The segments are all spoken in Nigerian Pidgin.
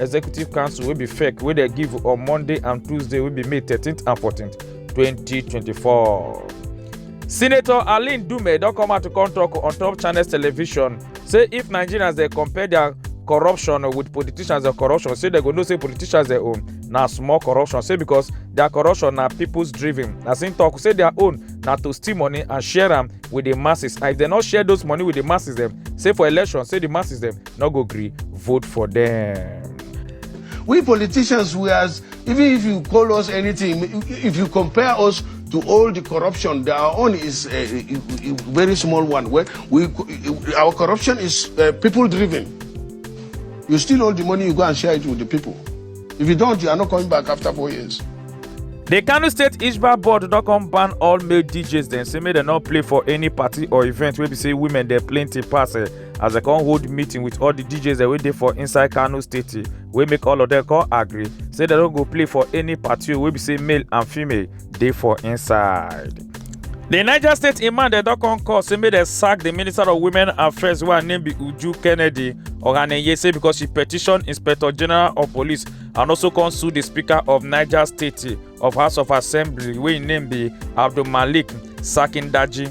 executive council wey be fake wey dem give on monday and tuesday wey be may 13th and 14th 2024. senator aline dume don come out to come talk on top channels television say if nigerians dey compare their corruption with politicians and corruption say dem go know say politicians their own na small corruption say because their corruption na people's driven as im talk say their own na to steal money and share am with the masses and if dem no share those money with the masses dem say for election say the masses dem no go gree vote for dem. we politicians we as even if you call us anything if you compare us to all the corruption their own is a, a, a very small one where we our corruption is uh, people driven you steal all the money you go and share it with the people if you don't you are not coming back after four years The Kano State Ishba board don come ban all male DJs dem say make dem no play for any party or event wey be say women dey plenty pass. eh. as dem come hold meeting with all the djs dem wey dey for inside kano state wey make all of them come agree say dem no go play for any party wey be say male and female dey for inside. The Niger State Imam dem don come call say make dem sack the Minister of Women Affairs wey her name be Uju Kennedy Ohaneye say because she petition Inspector General of Police and also come sue the Speaker of Niger State of House of Assembly wey im name be Abdulmalik Sakindaji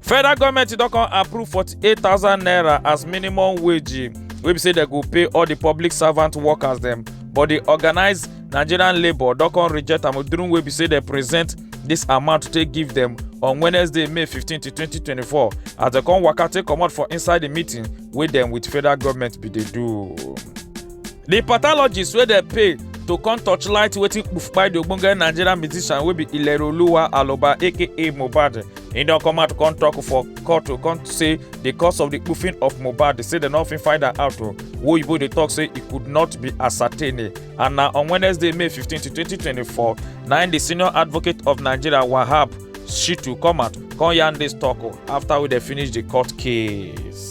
federal goment don come approve 48000 naira as minimum wage wey be say dem go pay all di public servant workers dem but di organised nigerian labour don come reject am during wey be say dem present dis amount to take give dem on wednesday may 15 to 2024 as dem come waka take comot for inside di meeting wey dem with federal goment bin dey do. di pathologist wey dem pay to come torchlight wetin kpufkpai di ogbonge nigerian musician wey be ilerioluwa aloba aka mohbad He don come out come talk for court to come say the cause of the goofing of Mohbad they say dem no fit find am out o. Oyibo dey talk say e could not be ascertained and na on Wednesday May 15 to 2024 na im the senior advocate of Nigeria Wahab Shitu come out come yarn this talk o after we dey finish the court case.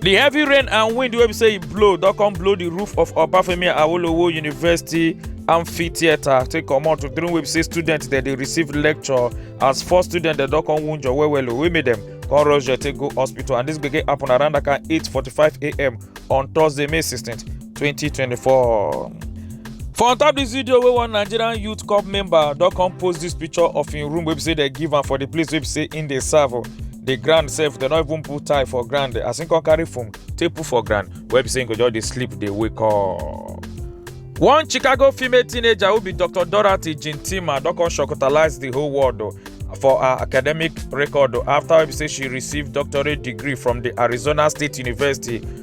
di heavy rain and wind wey be say e blow don come blow di roof of obafemi awolowo university amphitheatre take comot to during wey be say students dem dey receive lecture as four students dem don come wunjure well well o wey make dem come rush dem take go hospital and dis gbege happen around that kind 8:45am on thursday may 16 2024. for on top dis video wey one nigerian youth corps member don come post dis picture of im room wey be say dem give am for di place wey be say im dey serve o the ground sef dem no even put tie for ground as him come carry foam take put for ground wey be say him go just dey sleep dey wake up. one chicago female teenager wey be dr dorothy jintima don come shocktalize the whole world o for her academic record o after wey be say she receive doctorate degree from the arizona state university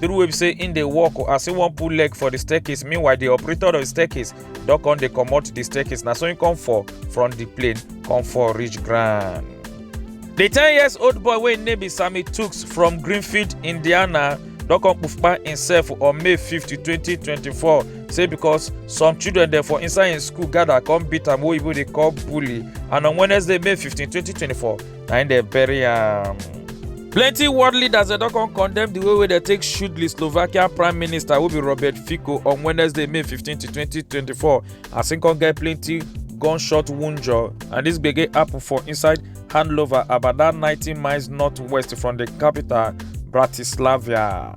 the rule wey be say im dey work o as im wan put leg for the staircase meanwhile the operator of the staircase don come dey comot the staircase na so im come fall from the plane come fall reach ground. the ten years old boy wey im name be sammy tuks from greenfield indiana don come kpufkpa himself on may 50 2024 say because some children dem for inside im school gather come beat am wey oyibo dey call bully and on wednesday may 15 2024 na im dey bury am. plenty world leaders dem don come condemn di way wey dem take shoot di slovakian prime minister wey be robert fico on wednesday may 15 to 2024 as im come get plenty gunshot wunjure and dis gbege happen for inside handlover about dat 90 miles northwest from di capital bratislava.